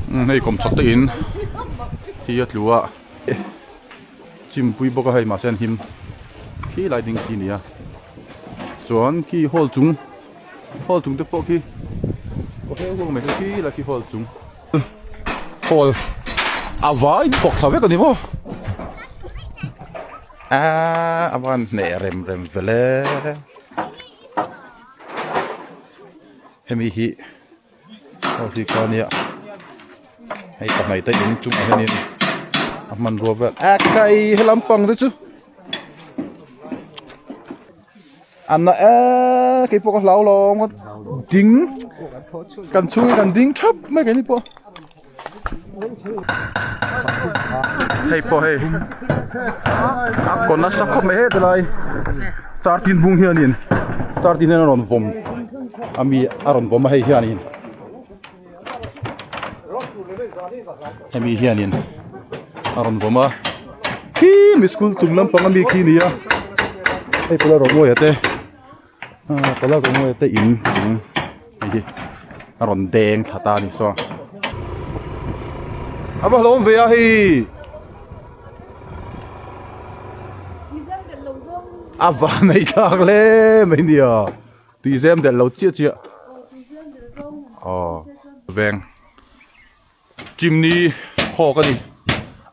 hei kawm chhak te in hi a tlu a chim pui bawk a hei mahse an him khi lai ding khi a ni a chuan khi hall chung hall chung te pawh khi aw he huang mai khi la khi hall chung hall a vai tawk tha vek a ni maw aaa a van hneh rem rem vele hemi hi. Ho hi kha nia hei ka hnaih ta in chung ah hianin a hmanrua ber ah kai he lam pang te chu anna e kei pawh ka hlau lo ding kan chhung hi kan ding thap mai kei ni pawh. hei pawh hei a kaw nasa khawp mai het alai char tin hmung hian in char tin hian a rawn vawm a mi a rawn vawm a hei hian in hemi hian in a rawn vawm a khim school chung lampang a mi khi a nia hei pawh la rawn uaih a te. Pala Rongawi te in chung hei hi a rawn deng tha ta a ni saw a va hlawm ve a hei a va nei thlak hle mai a nia tui zem der lo chiah chiah aw veng chimney khawk a ni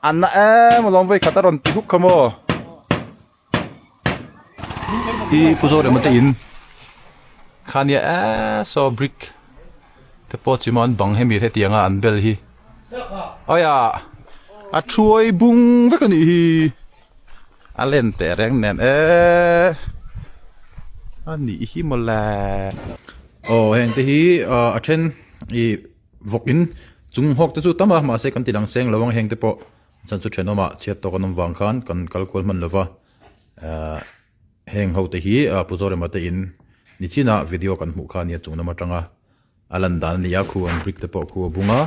anna em a lawm vei khat a rawn ti huk kha maw. i pu zawh reh mate in khania a saw brick te pawh chima an bang hemi hetianga an bel hi aia a thuai bung vek a nih hi a len teh reng nen e a nih hi mawla aw heng te hi a then i vawkin chung hawk te chu tam a mahse kan ti langseng lo ang heng te pawh. Chhan chu thenawmah chhiat tawk an awm vang khan kan kal kual hman lova, aah heng ho te hi Pu Zorema te in ni china video kan hmuh kha a nia chung lam atanga a lan dan a nia, khu an brick te pawh khu a bung a,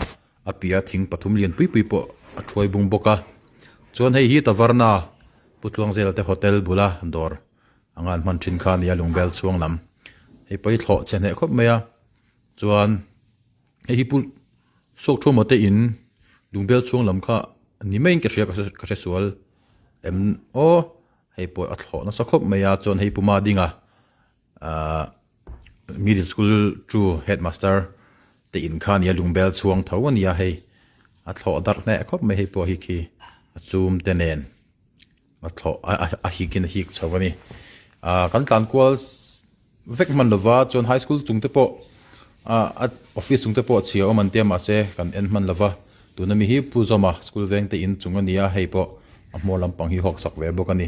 a piah a thing pathum lian pui pui pawh a thuai bung bawk a, chuan hei hi Taverna, Pu Tluang Zel te hotel bula dawr anga an hman thin kha a nia Lungbel chhuang lam, hei pawh hi thlawh chhe hneh khawp mai a, chuan. Hei hi pu Sawkthawma te in Lungbel chhuang lam kha ni maiin ka hria ka hre sual em aw hei pawh a thlawh nasa khawp mai a chuan hei puma dinga ah middle school chu headmaster te in kha nia Lungbel chhuang tho a nia hei a thlawh darh hneh khawp mai hei pawh hi khi a chum te nen A thlawh a hik in a hik chho a ni. Kan tlan kual vek hman lova chuan high school chung te pawh a office chung te pawh chhia awm an tia mahse kan en hman lova tuna mi hi Pu Zawma school veng te in chung a nia hei pawh a hmawr lampang hi huaksak ve bawk a ni.